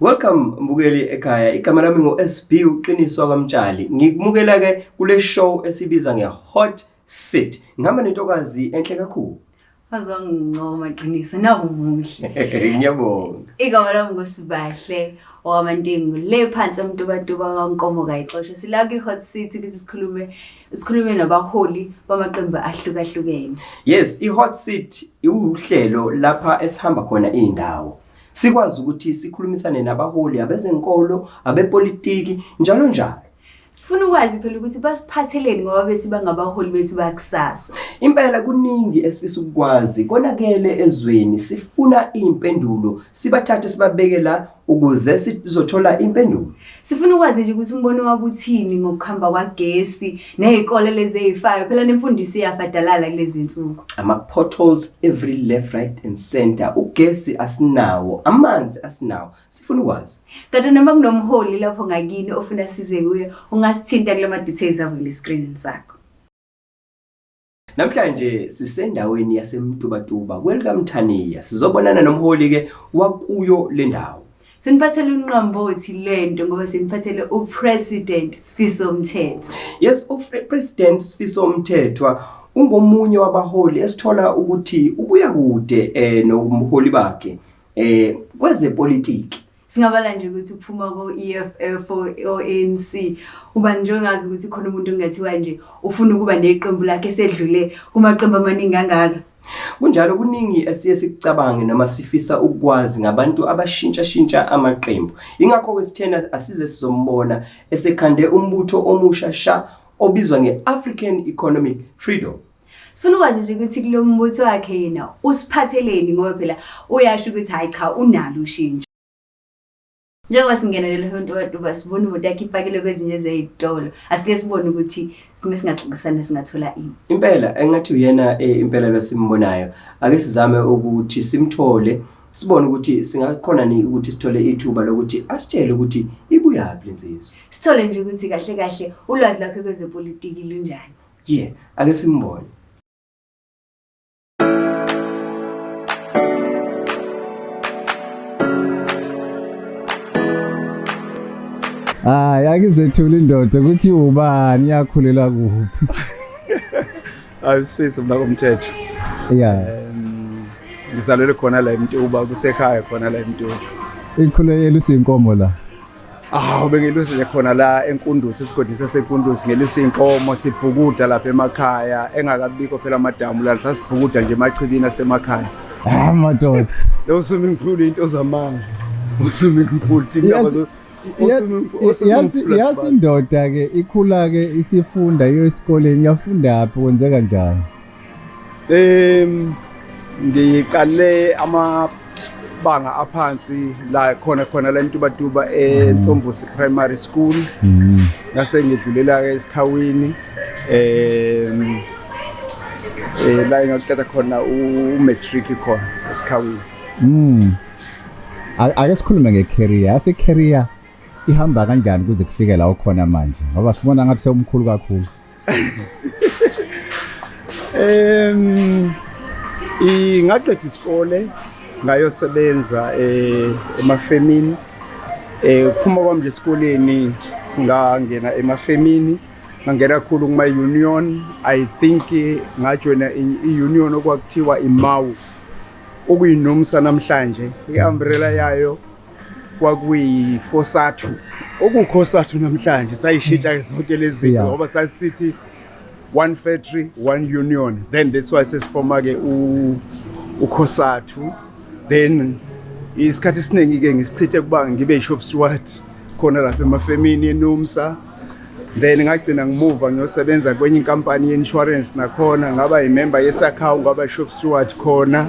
Welcome mbukeli ekhaya igama lami ngo SB uqiniswa kwamtshali ngikumukela ke kule show esibiza nge hot sit ngihamba nentokazi enhle kakhulu bazongincoma qiniso nawu muhle ngiyabonga igama lami ngusibahle owamantingu le phansi emtubatuba kankomo kayixoshe sila kwi-hot city ukuthi sikhulume sikhulume nabaholi bamaqembu ahlukahlukene yes i-hot city iwuhlelo lapha esihamba khona iy'ndawo sikwazi ukuthi sikhulumisane nabaholi abezenkolo abepolitiki njalo njalo sifuna ukwazi phela ukuthi basiphatheleni ngoba bethi bangabaholi bethu bakusasa impela kuningi esifisa ukukwazi konakele ezweni sifuna impendulo sibathathe sibabeke la ukuze sizothola impendulo Sifuna ukwazi nje ukuthi umbono wakho uthini ngokuhamba kwagesi nezikole lezi ezifayo phela nemfundiso iyafadalala kulezi nsuku. Ama potholes every left right and center ugesi asinawo amanzi asinawo sifuna ukwazi. Kanti noma kunomholi lapho ngakini ofuna size kuye ungasithinta kulama details avule screen sakho. Namhlanje sisendaweni yaseMtubatuba kwelikaMthaniya sizobonana nomholi ke wakuyo lendawo. Siniphathele unqambothi lento ngoba siniphathele uPresident Sifiso Mthethwa. Yes, uPresident Sifiso Mthethwa ungomunye wabaholi esithola ukuthi ubuya kude eh nokumholi bakhe eh kwezepolitiki. Singabala nje ukuthi uphuma ko-EFF o-ANC uba nje ongazi ukuthi khona umuntu kungathiwa nje ufuna ukuba neqembu lakhe esedlule kumaqembu amaningi angaka Kunjalo kuningi esiye sikucabange noma sifisa ukwazi ngabantu abashintsha shintsha amaqembu. Ingakho ke sithena asize sizombona esekhande umbutho omusha sha obizwa ngeAfrican Economic Freedom sifuna ukwazi nje ukuthi kulo mbutho wakhe yena usiphatheleni ngoba phela uyasho ukuthi hhayi cha unalo ushintsho njengoba singenelele hontobatuba sibona imoto yakhe ipakile kwezinye zey'tolo asike sibone ukuthi sime singaxoxisana singathola ini impela engathi uyena eh, impela lwasimbonayo ake sizame ukuthi simthole sibone ukuthi singakhona ni ukuthi sithole ithuba lokuthi asitshele ukuthi ibuyaphi le nsizwa sithole nje ukuthi kahle kahle ulwazi lakhe kwezepolitiki lunjani Yeah, ake simbone. Hayi akizethula indoda ukuthi ubani yakhulela kuphi. Ayisisi mna komthetho. Yeah. Um, ngizalelwe khona la eMtuba kusekhaya khona la eMtuba. Ikhulekela usinkomo la. Awu bengilusile khona la eNkundusi esigodini saseNkundusi ngelusa inkomo sibhukuda lapha emakhaya engakabikho phela amadamu la sasibhukuda nje emachibini asemakhaya. Ah madoda. Lo sumi mkhulu into zamanga. Usumi mkhulu indaba zo yazi indoda ke ikhula ke isifunda iyo esikoleni yafunda phi kwenzeka njani Um ngiqale amabanga aphansi la khona khona la eMtubatuba eNsombusi Primary School mm. ngase ngidlulela ke esikhawini um eh la ngaqeda khona u-matric khona esikhawini mm ake sikhulume nge-career yase career ihamba kanjani kuze kufike la ukhona manje ngoba sibona ngathi sewumkhulu kakhulu Em ingaqeda isikole ngayosebenza eh, emafemini eh phuma kwami nje esikoleni ngangena emafemini ngangena kakhulu kuma union i think ngajoina i-union okwakuthiwa imawu okuyinomsa namhlanje i-umbrella yayo kwakuyi-fosathu okukhosathu namhlanje sayishintsha mm. zonke lezi zinto yeah. ngoba sasithi one factory one union then that's why sesifoma-ke ukhosathu then isikhathi esiningi-ke ngisichithe kuba ngibe i-shop steward khona lapha emafemini enumsa then ngagcina ngimuva ngiyosebenza kwenye inkampani ye-insurance nakhona ngaba yimemba yesakhawu ngaba i-shop steward khona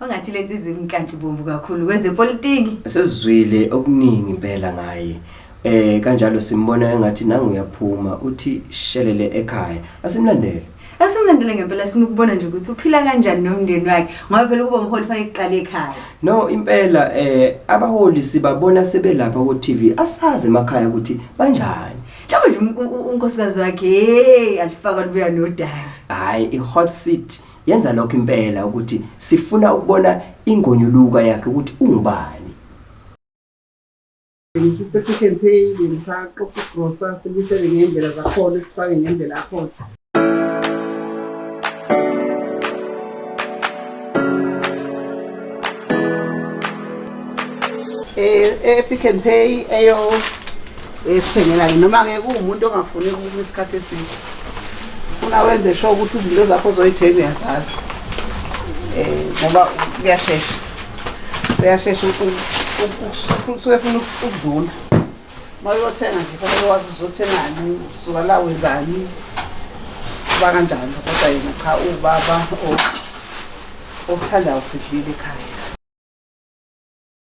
Ongathi lenza izwi imkanti bomvu kakhulu kwezepolitiki. Sesizwile okuningi impela ngaye. Eh kanjalo simbona engathi nangu uyaphuma uthi shelele ekhaya. Asimlandele. Asimlandele ngempela sifuna ukubona nje ukuthi uphila kanjani nomndeni wakhe ngoba phela ukuba umholi fanele kuqale ekhaya. No impela eh abaholi sibabona sebelapha ku TV asazi emakhaya ukuthi banjani. Mhlawumbe nje unkosikazi wakhe hey alifaka lubuya nodaka. Hayi i hot seat Yenza lokho impela ukuthi sifuna ukubona ingonyuluka yakhe ukuthi ungubani. Sisepick and pay ngisaqoqa igrosa sibuyisele ngey'ndlela zakhona sifake ngendlela yakhona e-pick and pay eyo esithengela ke noma ke kuwumuntu ongafuni ukuma isikhathi esinje funa wenze sho ukuthi izinto zakho zoyithenga uyazazi um ngoba kuyashesha uyashesha usuke funa ukudlula uma uyothenga nje fanele wazi uzothengani suka la wenzani uba kanjalo kodwa yena cha ubaba osithandayo sidlile ekhaya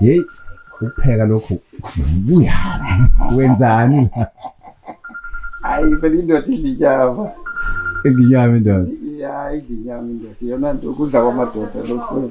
Hey, ukupheka lokho kuya. Wenzani la? Hayi phela indoda idla inyama. Inyama indoda. Ya idla inyama indoda. Yona nto ukudla kwamadoda lokho.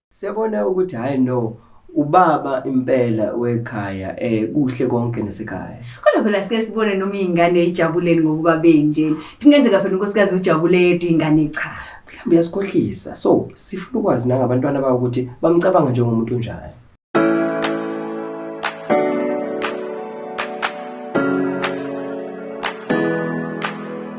Siyabona ukuthi hayi no ubaba impela wekhaya eh kuhle konke nasekhaya kodwa phela sike sibone noma izingane ijabuleni ngokuba benje kungenzeka phela unkosikazi ujabule yedwa ingane cha mhlawumbe yasikhohlisa so sifuna ukwazi nangabantwana bawo ukuthi bamcabanga njengomuntu onjani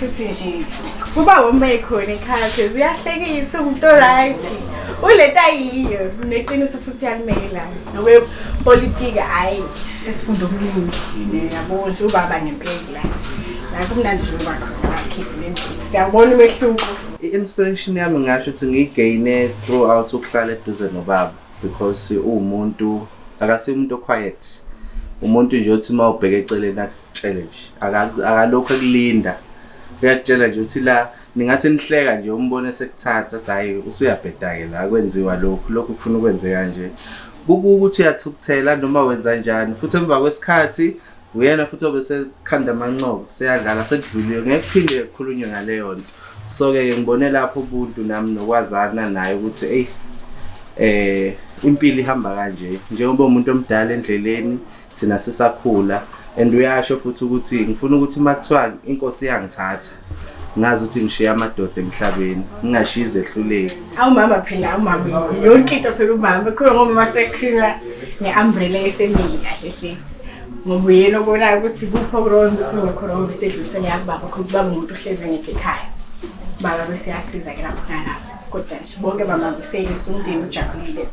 futhi nje kuba uma ekhona ekhaya phezulu uyahlekisa umuntu oright ulento ayiyo neqiniso futhi uyalimela nokwepolitiki hhayi sesifunda okuningi yabo nje ubaba ngempeki la nakho kumnandi nje ubakhona bakhiphe lensisi siyawubona umehluko i-inspiration yami ngasho ukuthi ngiyigayine throughout ukuhlala eduze nobaba because uwumuntu akasiye umuntu oquiet umuntu nje othi uma ubheke eceleni tshele nje aka- akalokhu ekulinda uyakutshela nje uthi la ningathi nihleka nje umbone sekuthatha athi hhayi usuyabheda-ke la kwenziwa lokhu lokhu kufuna ukwenze kanje kukuke ukuthi uyathukuthela noma wenza njani futhi emva kwesikhathi uyena futhi obe sekukhanda amancobo seyadlala sekudluliwe ngeke kuphinde kukhulunywe ngaleyo nto so ke ngibone lapho ubuntu nami nokwazana naye ukuthi eyi eh impilo ihamba kanje njengoba umuntu omdala endleleni thina sisakhula and uyasho futhi ukuthi ngifuna ukuthi uma kuthiwa inkosi iyangithatha ngazi ukuthi ngishiya amadoda emhlabeni ngingashiyi izehluleki awumama phela awumama yonke into phela umama khona ngomama sekhula ne-umbrella yefamily kahle hle ngoba uyena obonayo ukuthi kuphi okurongo kuphi ngokhorongo bese edlulisela yakubaba because ubaba umuntu uhlezi ngekho ekhaya baba bese yasiza ke lapho nalapho kodwa nje bonke bamambiselisa umndeni ujabulile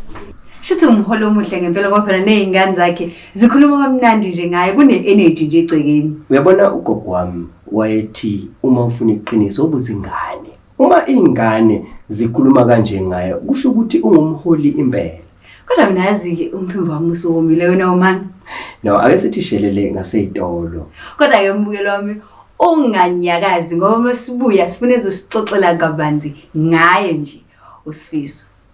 shuthi umholo omuhle ngempela ngoba phela ney'ngane zakhe zikhuluma kamnandi nje ngaye kune-energy nje egcekeni uyabona ugogo wami wayethi uma ufuna iqiniso obuzingane Uma ingane zikhuluma kanje ngaye kusho ukuthi ungumholi impela. Kodwa mina yazi-ke umphimbo wami usuwomile wena umani. No, ake sithi shelele ngaseyitolo. Kodwa-ke umbukelo wami unganyakazi ngoba uma sibuya sifuna ezosixoxela kabanzi ngaye nje usifiso.